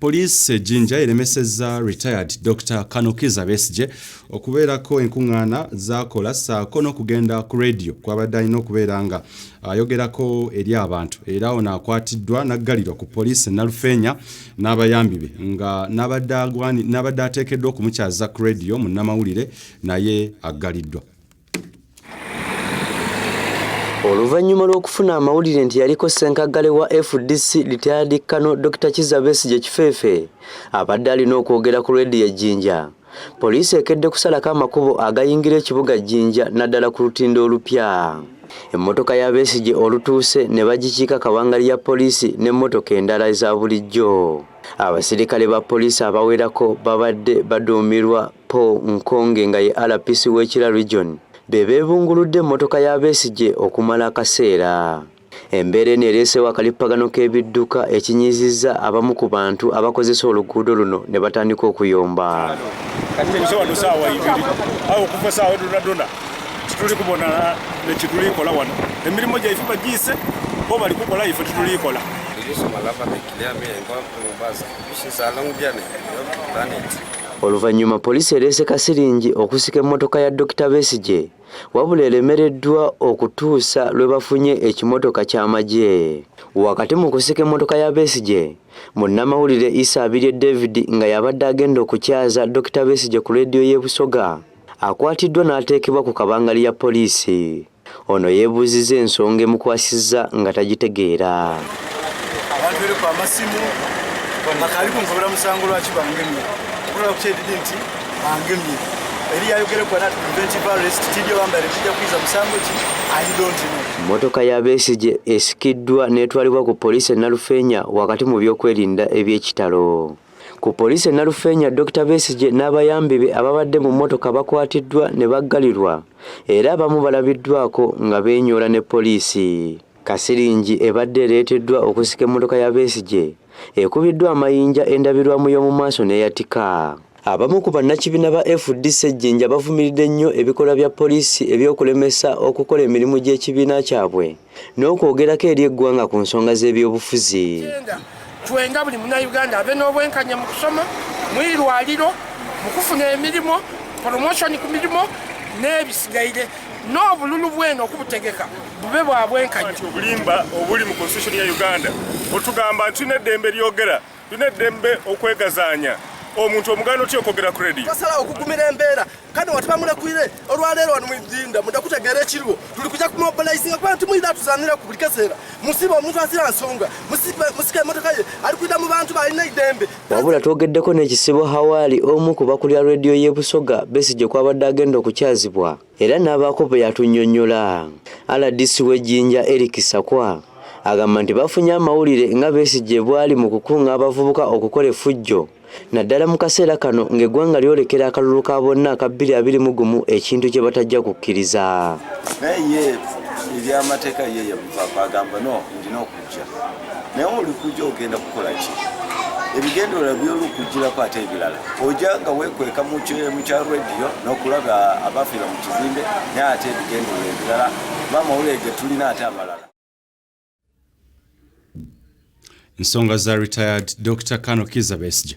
Poliisi e Jinja eremesezza retired Dr Kanukiza Besigye okubeerako enkuŋŋaana zaakola ssaako n'okugenda ku leediyo kwabadde alina okubeera nga ayogerako eri abantu era ono akwatiddwa n'aggalirwa ku poliisi Nalufeenya n'abayambi be nga n'abadde ateekeddwa okumukyaza ku leediyo munnamawulire naye aggaliddwa. Oluvannyuma lw'okufuna amawulire nti yaliko ssenkaggale wa fdc Retired Kano Dokita Kizza Besigye Kifeefe abadde alina okwogera ku leediyo e Jinja, poliisi ekedde kusalako amakubo agayingira ekibuga Jinja naddala ku lutindo olupya. Emmotoka ya Besigye olutuuse ne bagikiika kabangali ya poliisi n'emmotoka endala eza bulijjo. Abasirikale ba poliisi abawerako babadde baduumirwa Paul Nkonge nga ye RPC w'ekira region be beebunguludde emmotoka ya Besigye okumala akaseera. Embeera eno ereesewo akalippagano k'ebidduka ekinyizizza abamu ku bantu abakozesa oluguudo luno ne batandika okuyomba. Tituli kubona nekitulikola wano emirimu gyaife bagiise bo balikukola ife titulikola Oluvannyuma poliisi ereese kasiringi okusika emmotoka ya Dokita Besigye wabula eremereddwa okutuusa lwe bafunye ekimotoka ky'amagye. Wakati mu kusika emmotoka ya Besigye, munnamawulire Isa Abirye David nga y'abadde agenda okukyaza Dokita Besigye ku leediyo y'e Busoga akwatiddwa n'ateekebwa ku kabangali ya poliisi. Ono yeebuuzizza ensonga emukwasizza nga tagitegeera. Abantu bere kwa masimu bakali kunkobera musango lwaki bangemye okulaba kukyedidi nti bangemye eri yayogerekwa nati preventive arrest tibyo bambale kijja kuyiza musango ki i don't know mmotoka ya besigye esikiddwa n'etwalibwa ku poliisi e nalufeenya wakati mu byokwerinda eby'ekitalo Ku poliisi e Nalufeenya, Dokita Besigye n'abayambi be ababadde mu mmotoka bakwatiddwa ne baggalirwa era abamu balabiddwako nga beenyoola ne poliisi. Kasiringi ebadde ereeteddwa okusika emmotoka ya Besigye ekubiddwa amayinja endabirwamu y'omu maaso n'eyatika. Abamu ku bannakibiina ba FDC e Jinja bavumiridde nnyo ebikolwa bya poliisi eby'okulemesa okukola emirimu gy'ekibiina kyabwe. n'okwogerako eri eggwanga ku nsonga z'ebyobufuzi twenga buli munauganda ave n'obwenkanya mu kusoma mwirwaliro mu kufuna emirimu promotion ku mirimu n'ebisigaire n'obululu bweno okubutegeka bube bwa bwenkanya obulimba obuli mu constitution ya uganda otugamba nti tulina eddembe lyogera Tulina eddembe okwegazaanya omuntu omuganda otya okwogera ku radio tosala okugumira embeera kati watuba mulekuire olwaleero wano mujinda muda kutegeera ekiriwo tuli kuja kumobilizinga kubanga timuyina tuzanira ku buli kaseera musiba omuntu asira nsonga musika emotoka ye ali kuida mu bantu balina idembe wabula twogeddeko n'ekisibo hawaali omu ku bakulira rediyo y'e busoga besigye kwabadde agenda okukyazibwa Era n'abaako bwe yatunnyonnyola. Rdc w'e Jinja Eric Sakwa agamba nti bafunye amawulire nga Besigye bw'ali mu kukunga abavubuka okukola effujjo naddala mu kaseera kano ng'eggwanga lyolekera akalulu ka bonna aka bbiri abiri mu gumu ekintu kye batajja kukkiriza. naye olikuja ogenda kukola ki ebigendererwa byolukujjirako ate ebirala oja nga wekweka mu kya rediyo n'okulaba abafiira mu kizimbe naye ate ebigendererwa ebirala bamawulire ge tulina ate amalala nsonga za retired dr kano kiza besige